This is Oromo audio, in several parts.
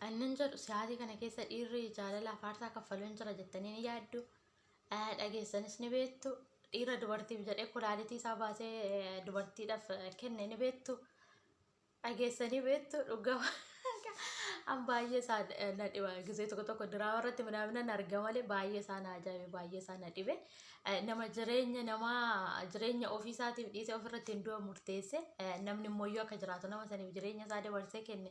Annan jedhu siyaatii kana keessa dhiirri jaalala afaarsaa kaffaluun jira jettanii ni yaaddu. Dhageessanis ni beektu. Dhiira dubartiif jedhee kulaalitii isaa baasee dubartiidhaaf kenne ni beektu. Dhageessanii beektu dhugaa an baay'ee isaa na dhiba gisee tokko tokko diraama irratti midhaaminaan arga malee baay'ee isaa na ajaa'ibe baay'ee isaa na dhibe. Nama jireenya nama jireenya ofii isaatiif dhiisee ofirratti hin du'a murteesse namni immoo akka jiraatu nama saniif jireenya isaa dabarsee kenne.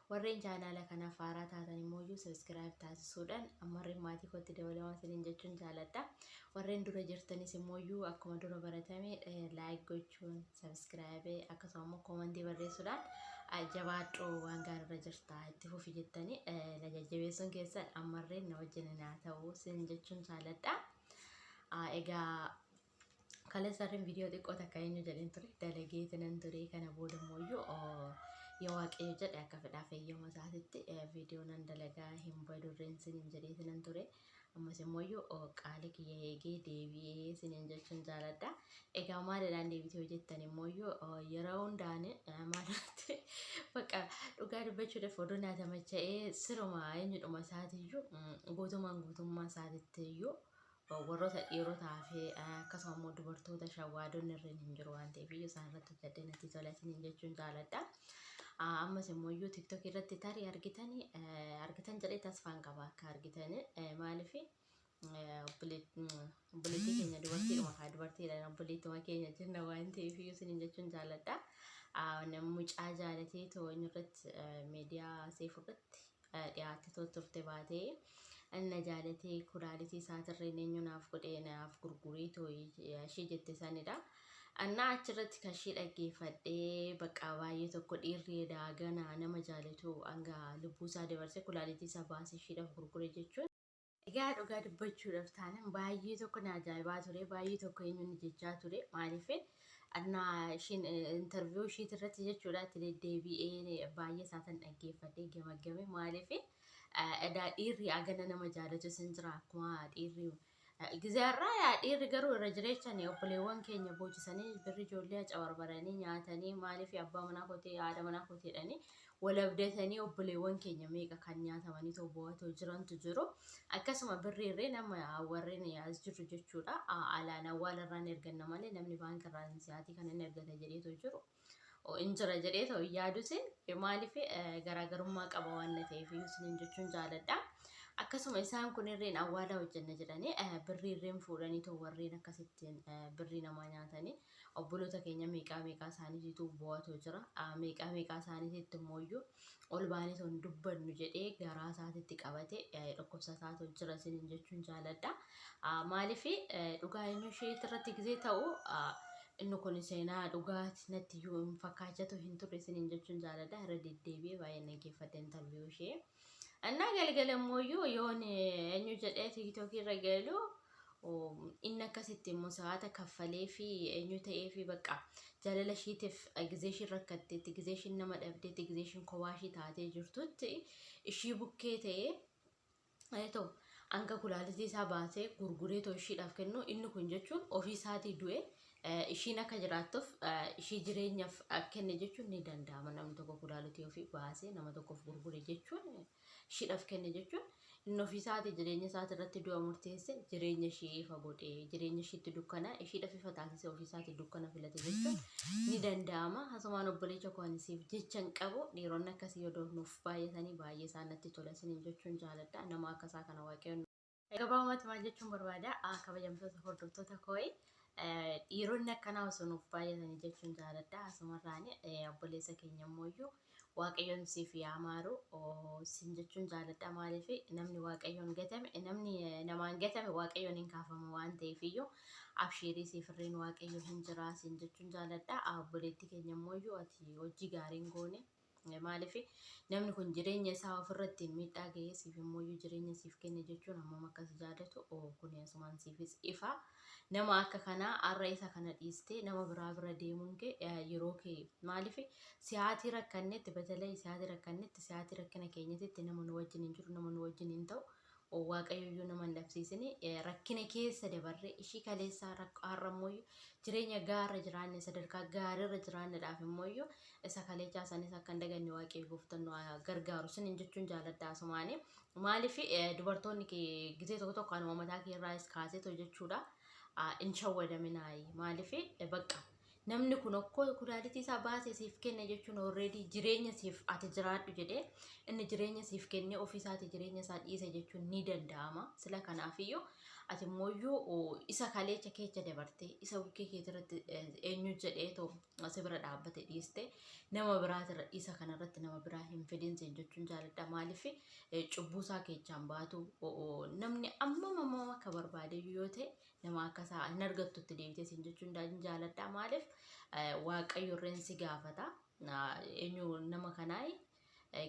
Warreen chaanaala kanaaf haaraa taatan immoo iyyuu subscribe taasisuudhaan ammarreen maatii kootti dabalamaa isiniin jechuun jaaladha. Warreen dura jirtanis immoo iyyuu akkuma dura baratame like gochuun subscribe akkasuma immoo koomantii barreessuudhaan jabaadhu waan gaariirra jirta itti fufi jettanii na jajjabeessuun keessan ammarreen na wajjin naa ta'u isiniin jechuun jaaladha. Egaa Kaleessarreen viidiyoo xiqqoo takka eenyu jedheen ture dalagee tinan ture kana booda immoo iyyuu yoo waaqayyo jedhe akka fedhaa fayyama isaatitti viidiyoo nan dalagaa hin badurreen sinin jedhee tinan ture ammas immoo iyyuu qaali kiyya eegee deebi'ee sinin jechuun jaaladha egaa maalidhaan deebitee hojjettan immoo iyyuu yeroo hundaan maalirratti bakka dhugaa dubbachuudhaaf oduu naa tamacha'ee siruma eenyudhuma isaatiiyyuu guutumaan guutummaa isaatitti iyyuu Warroota dhiirotaa fi akkasuma immoo dubartoota shawwaadonni irreen hin jiru waan ta'eef iyyuu isaan irratti hojjedhee natti tola isiniin jechuun jaaladha. Ammas immoo iyyuu tiktok irratti tarii argitan argitan jedhee tasfaan qaba akka argitan maaliif obboleettii keenya dubartiidhuma kaa dubartiidhaan obboleettuma keenya jenna waan ta'eef iyyuu isiniin jechuun jaaladha. Mucaa jaalatee too inni irratti miidiyaa seefu irratti dhiyaatte too turte baatee na jaalatee kulaalitii isaatirreen eenyu naaf godhee naaf gurgurii too ishii jette sanidha. Annaa achirratti kan ishii dhaggeeffadhee baqqaa baay'ee tokko dhiirri edaa ganaa nama jaalatu hanga lubbuu isaa dabarse kulaalitii isaa baase ishiidhaaf gurgure jechuun Egaa dhugaa dubbachuudhaaf taanan baay'ee tokko na ajaa'ibaa ture baay'ee tokko eenyuun jechaa ture maaliif annaa ishiin interviyuu ishiit irratti jechuudha itti deddeebi'ee baay'ee isaatan dhaggeeffadhee gamaggame maaliif edaa dhiirri agana nama jaalatu sin jira akkuma dhiirri gizaarraa yaa dhiirri garuu irra jireechan obboleewwan keenya boochisanii birri ijoollee acabarbaranii nyaatanii maaliif abbaa manaa kotee haadha manaa koteedhanii Wal abdatanii obboleewwan keenya meeqa kan nyaatamaniitoo boo'atoo jirantu jiru. Akkasuma birriirreen amma warreen as jirru jechuudha. Alaan awwaalarraan erganna malee namni baankiirraan siyaatii kan inni ergata jedheetoo jiru. In jira jedheetoo hin yaadusin maaliif garaagarummaa qaba waan na ta'eef isiniin jechuun jaaladha. Akkasuma isaan kunirreen awwaala hojjenna jedhanii birriirreen fuudhaniitoo warreen akkasittiin birrii namaa nyaatanii Obboloota keenya meeqaa meeqaa isaaniitiitu boo'atoo jira. Meeqaa meeqaa isaaniitiitti immoo iyyuu ol baanee osoo hin dubbannu jedhee garaa isaatiitti qabate dhukkubsataatoo jira isiniin jechuun jaaladha. Maaliif dhugaa eenyu isheetti irratti gizee ta'u inni kun seenaa dhugaati natti iyyuu hin fakkaachatu hin turre isiniin jechuun jaaladha. Irra deddeebi'ee baay'ee dhaggeeffadhe intarviyuu ishee. Annaa galgala immoo iyyuu yoon eenyu jedhee tiiktookii irra galu Inni akkasitti immoo sa'aata kaffalee fi eenyu ta'ee fi bakka jaalala ishiitiif gizee ishiin rakkatteetti, gizee ishiin nama dhabdeetti, gizee ishiin kophaa ishii taatee jirtutti ishii bukkee ta'ee Eto hanga kulaalitii isaa baasee gurguree too ishiidhaaf kennu inni kun jechuun ofii isaatii du'e ishiin akka jiraattuuf ishii jireenyaaf kenne jechuun ni danda'ama namni tokko kulaalitii ofii baasee nama tokkoof gurgure jechuun Shiidhaf kenne jechuun inni ofii isaati jireenya isaati irratti du'a murteesse jireenya ishii ifa godhe jireenya ishiitti dukkana ishiidhaf ifa taasise ofii isaati dukkana filate jechuun ni danda'ama hasumaan obboleecha koo ani siif jechan qabu dhiironni akkasii yoo nuuf baay'atanii baay'ee isaanatti tola isiniin jechuun jaaladha nama akkasaa kana waaqayyoon Gabaabumatti maal jechuun barbaada? Ah, Kabajamtoota hordoftoota kooyi eh, dhiironni akkanaa osoo nuuf baay'atanii jechuun jaaladha. Asumarraan eh, obboleessa keenya immoo iyyuu waaqayyoon siif yaa maaru oh, sin jechuun jaaladha. Maaliif namni waaqayyoon gatame eh, namni eh, namaan gatame waaqayyoon hin kaafama waan ta'eef iyyuu abshiirii siif irreen waaqayyo hin jira sin jechuun jaaladha. Ah, Obboleettii keenya immoo iyyuu ati hojii gaariin goone. Maaliif namni kun jireenya isaa ofirratti miidhaa ga'ee siif immoo iyyuu jireenya siif kenne jechuun hammam akka si jaadatu oo kun asumaan siifis ifa. Nama akka kanaa har'a isa kana dhiistee nama biraa bira deemuun kee eh, yeroo kee maaliif siyaatii rakkannetti batalee siyaatii rakkannetti siyaatii rakkina keenyatitti nama nu wajjin hin jiru nama nu wajjin hin ta'u o Waaqayyo iyyuu nama hin dhabsiisine eh, rakkina keessa dabarre ishii kaleessaa rakko har'a immoo iyyuu jireenya gaarra jiraanne sadarkaa gaariirra jiraannedhaaf immoo iyyuu isa kaleechaa sanis akka hin daganne Waaqayyo gooftan nu haa gargaaru sinin jechuun jaaladha asumaani maaliif eh, dubartoonni kee gizee tokko tokko anuma mataa kee irraas kaaseetu jechuudha Ah, hin shawwadaminaayi maaliif eh, baqqa Namni kun okkoo kudaalitii isaa baasee siif kenne jechuun already jireenya siif ati jiraadhu jedhee inni jireenya siif kennee ofii isaati jireenya isaa dhiise jechuun ni danda'ama. Sila kanaafiyyuu ati immoo isa kaleecha keecha dabartee isa bukkee keetirratti eenyu jedhee too si bira dhaabbate dhiiste nama biraatirra isa kanarratti nama biraa hin fidin siin jechuun jaaladha. Maaliif cubbuu isaa keechaan baatu namni ammam ammam akka barbaade yoo ta'e nama akka isaa hin argattu itti deebitee siin jechuun daadin jaaladhaa maaliif waaqayyo irreen si gaafata eenyu nama kanaa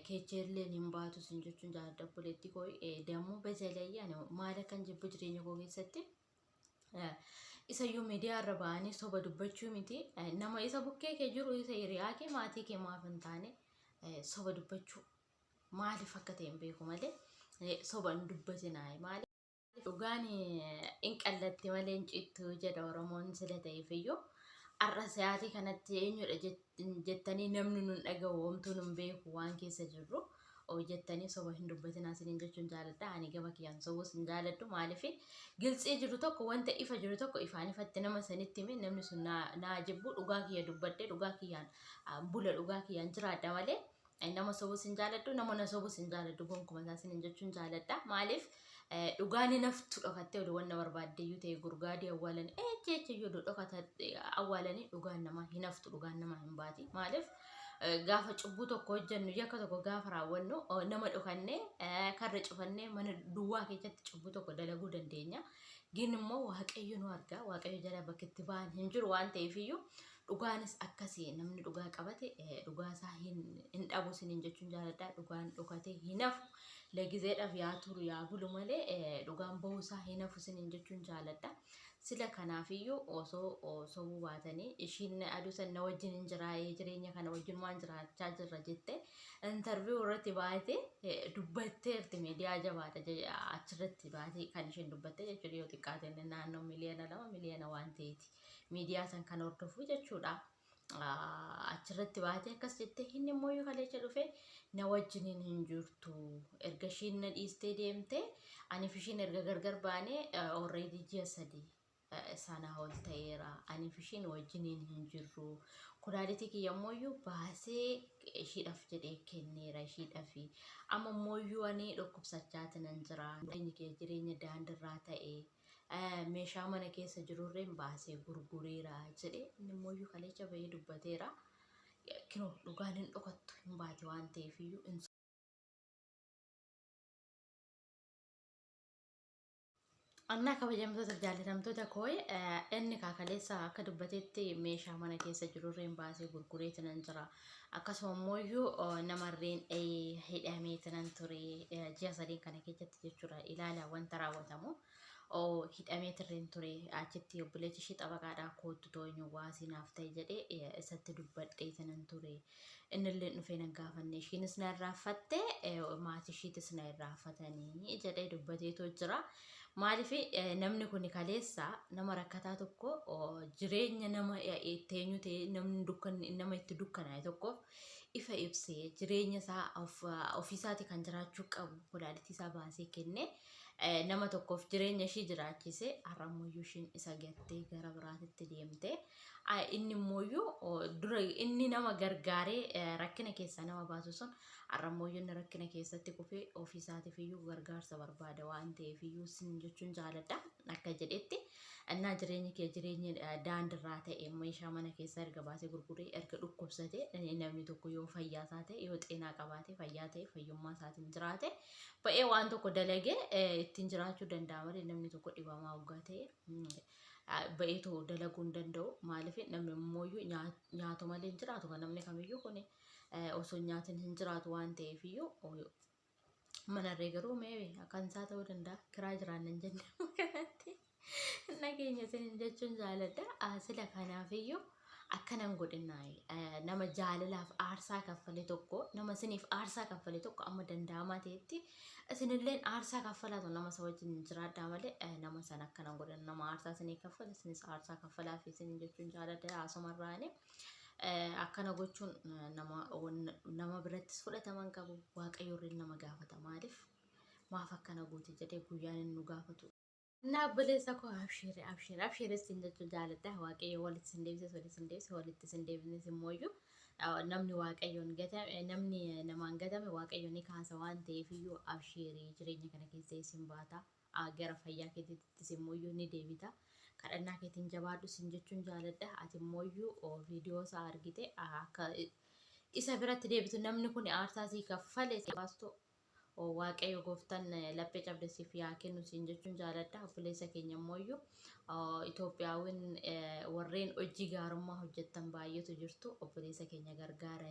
keecheelleen hin baatu siin jechuun jaaladha obboleettii koo dammoo bezelayii ani maal akkan jibbu jireenya koo keessatti isayyuu miidiyaa irra ba'anii soba dubbachuu miti nama isa bukkee kee jiru isa hiriyaa kee maatii kee maaf hin taane soba dubbachuu maaliif akka ta'e hin beeku malee soba hin dubbatinaa maaliif Dhugaan in qallatti malee hin cittu jedha Oromoon sila ta'eefiyyuu. Har'a sa'aatii kanatti eenyudha jettanii namni nun dhagahu homtuu nun beeku waan keessa jirru jettanii soba hin dubbatinaa isiniin jechuun jaaladha. Ani gama kiyyaan sobus hin jaaladhu maaliif giltsii jiru tokko wanta ifa jiru tokko ifaan ifatti nama sanitti hime namni sun naa jibbu dhugaa kiyya dubbadhe dhugaa kiyyaan bula dhugaa kiyyaan jiraadha malee Ani nama sobus hin jaaladhu, nama na sobus hin jaaladhu gonkuma isaa sinin jechuun jaaladha. Maaliif eh, dhugaan hinaftu dhokattee oduu wanna barbaadde iyyuu ta'e gurgaadii awwaalanii eh jecha iyyuu oduu dhokata eh, awwaalanii dhugaan namaa hinaftu dhugaan namaa hin baati. Maaliif eh, gaafa cubbuu tokko hojjennu yakka tokko gaafa raawwannu oh, nama dhokannee eh, karra cufannee mana duwwaa keessatti cubbuu tokko dalaguu dandeenya. Gin immoo waaqayyo nu arga waaqayyo jala bakka itti ba'an hin jiru waan ta'eef iyyuu Dhugaanis akkasi namni dhugaa qabate dhugaa isaa hin hin dhabu sinin jechuun jaaladha dhugaan dhokatee hin hafu legizeedhaaf yaa turu yaa bulu malee dhugaan bahuu isaa hin hafu sinin jechuun jaaladha sila kanaafiyyuu osoo sobuu baatanii ishiin aduu san na wajjin hin jiraa'ee jireenya kana wajjin waan jiraachaa jirra jette intarviyu irratti baate dubbatteerti miidiyaa jabaadha achirratti baate kan ishiin dubbatte jechuudha yoo xiqqaateen naannoo miliyoona lama miliyoona waan ta'eeti. miidiyaa san kan hordofu jechuudha. Achirratti baatee akkas jettee inni immoo yoo kaleecha dhufe na wajjiniin hin jirtu. Erga ishiin na dhiistee deemte aniif ishiin erga gargar baanee already ji'a sadii sana ol ta'eera. Aniif ishiin wajjiniin hin jirru. Kulaalitii kiyya immoo baasee ishiidhaaf jedhee kenneera ishiidhaaf. Amma immoo ani dhukkubsachaa jiran jira. Jireenya kee jireenya daandirraa ta'e. meeshaa mana keessa jirurreen baasee gurgureera jedhee inni immoo iyyuu kaleecha bahee dubbateera. Kinoo dhugaan hin dhokattu hin baate waan ta'eef iyyuu hin Annaa kabajamtoota jaallatamtoota kooye inni kaakaleessa akka dubbatetti meeshaa mana keessa jirurreen baasee gurgureeti nan jira Akkasuma immoo namarreen hidhamee tanan ture ji'a sadeen kana keessatti jechuudha ilaala wanta raawwatamu. hidhamee tirreen ture achitti obboleechi ishee xabaqaadhaa koottu tooynu waasii naaf ta'e jedhee isatti dubbadhee tanan ture innillee dhufee nan gaafanne ishiinis na irraaffatte maatii ishiitis na irraaffatanii jedhee dubbateetoo jira. Maaliif namni kun kaleessa nama rakkataa tokko jireenya nama itti eenyu ta'e namni dukkan nama itti dukkanaa'e tokkoof ifa ibsee jireenya isaa of- ofiisaati kan jiraachuu qabu kulaalitii isaa baasee kenne eh, nama tokkoof jireenya ishii jiraachise har'a immoo ishiin isa gattee gara biraatitti deemte Ah, inni immoo dura inni nama gargaaree eh, rakkina keessaa nama baasu sun Har'ammoo yoo inni rakkina keessatti kufe ofiisaatiifiyyuu gargaarsa barbaada waan ta'eefiyyuu sin jechuun jaaladha akka jedhetti innaa jireenyi kee jireenyi eh, daandirraa ta'e meeshaa mana keessaa erga baasee gurguree erga dhukkubsate eh, namni tokko yoo fayyaa isaa ta'e yoo xeenaa qabaate fayyaa ta'e fayyummaa isaatiin jiraate ba'ee waan tokko dalagee eh, ittiin jiraachuu danda'a malee namni tokko dhibamaa hoggaa ta'e mm, ah, ba'ee too dalaguu hin danda'u maaliif namni immooyyuu nyaa- nyaatu malee hin jiraatu kan namni kamiyyuu kuni. osoo hin nyaatin hin jiraatu waan ta'eef iyyuu manarree garuu mee kan isaa ta'uu danda'a kiraa jiraannan jenne kanatti nageenya isinin jechuun jaaladha sila kanaaf iyyuu akkanan godhinnaay nama jaalalaaf aarsaa kaffale tokko nama isiniif aarsaa kaffale tokko amma danda'amaa ta'etti isinilleen aarsaa kaffalaatu nama isa wajjin jiraadhaa malee nama san akkanan godhin nama aarsaa isinii kaffale isinis aarsaa kaffalaaf isinin jechuun jaaladha haasumarraanii. Akkana gochuun nama nama birattis fudhatama hin qabu. Waaqayyo irra nama gaafata maaliif? Maaf akkana goote jedhee guyyaan inni nu gaafatu. Naa obboleessa koo abshiire abshiire abshiire siin jechuu jaaladha. Waaqayyo walitti sin deebise walitti sin deebise walitti sin deebisnes immoo iyyuu namni waaqayyoon gatame namni namaan gatame waaqayyo ni kaasa waan ta'eef iyyuu abshiirii jireenya kana keessa isin baata. a Gara fayyaa keetiittis immooyyuu ni deebita. Kadhannaa keetiin jabaadhu sin jechuun jaaladha. Ati immooyyuu o, viidiyoo isaa argite a, akka i- isa biratti deebitu namni kun aarsaa sii kaffale si baastu o, Waaqayyo gooftan eh, laphee cabde siif yaa kennu siin jechuun jaaladha. Obboleessa keenya immooyyuu o, Itoophiyaawwan eh, warreen hojii gaarummaa hojjettan baay'eetu jirtu. Obboleessa keenya gargaara.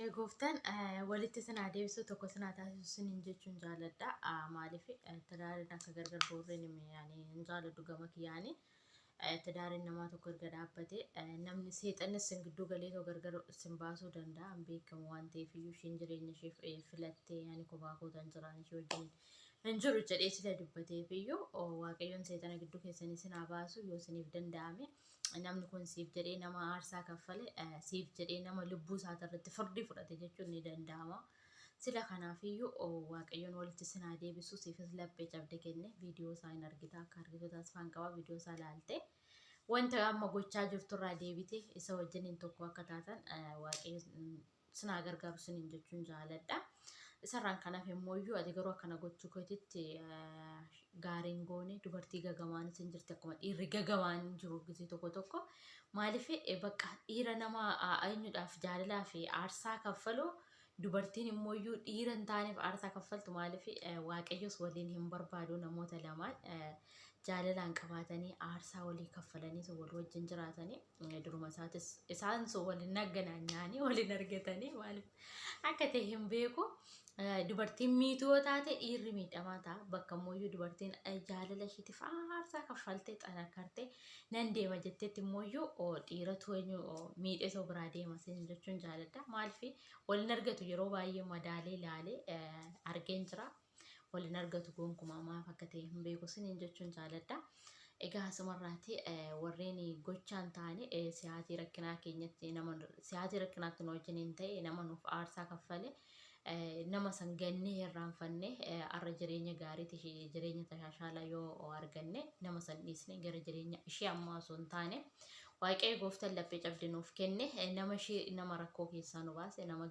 Ee gooftaan walitti isin haa deebisu tokko isin haa taasisu isiniin jechuun jaaladha. Maaliif tadaariin akka gargar boorreen hin jaaladhu gama kiyyaanii. Tadaariin namaa tokko erga dhaabbate namni seexanni isin gidduu galee too gargar isin baasuu danda'a hin beekamu waan ta'eef iyyuu ishiin jireenya ishee filattee ani kophaa kootan jiraan ishee wajjin hin jiru jedhee sila dubbateef iyyuu waaqayyoon seexana gidduu keessanii isin haa baasu yoo isiniif danda'ame. namni kun siif jedhee nama aarsaa kaffale siif jedhee nama lubbuu isaati irratti firdii fudhate jechuun ni danda'ama. Sila kanaafiyyuu waaqayyoon walitti sinaa deebisuu siifis laphee cabde kenne viidiyoo isaa hin argita akka argitu taasifaan qaba viidiyoo isaa laalte. Wanta amma gochaa jirturraa deebite isa wajjin hin tokko akka taatan waaqayyoon sin haa gargaaru siniin jechuun jaaladha. Isarraan kan hafe immoo iyyuu ati garuu akkana gochuu keetitti gaariin goone dubartii gagawaanis hin jirti akkuma dhiirri gagawaan hin jiru gisee tokko tokko maaliif bakka dhiira nama eenyudhaaf jaalalaa fi aarsaa kaffaluu dubartiin immoo iyyuu dhiira hin taaneef aarsaa kaffaltu maaliif waaqayyos waliin hin barbaadu namoota lamaan jaalalaan qabaatanii aarsaa walii kaffalanii wal wajjin jiraatanii. duruma isaatis isaan sun waliin nagganaan nyaanii waliin argatanii maaliif akka ta'e hin beeku. Dubartiin miituu yoo taate dhiirri miidhamaa ta'a. Bakka immoo dubartiin jaalala ishiitiif aarsaa kaffaltee xanakartee nan deema jettetti immoo dhiiratu miidhee soo biraa deema siin jechuun jaaladha. Maaliif waliin argatu yeroo baay'ee madaalee ilaalee argeen jira. wal hin argatu gonkumaa maaf akka ta'e hin beeku siniin jechuun jaaladha. Egaa asumarraati warreen gochaan taane siyaatii rakkinaa keenyatti nama siyaatii rakkinaatti nu wajjiniin ta'e nama nuuf aarsaa kaffale nama san gannee irraanfanne arra jireenya gaariiti jireenya tashaashaalaa yoo arganne nama san dhiisne gara jireenya ishee ammaa osoo hin taane waaqayyo gooftan laphee cabdi nuuf kenne nama ishee nama rakkoo keessaa nu baase nama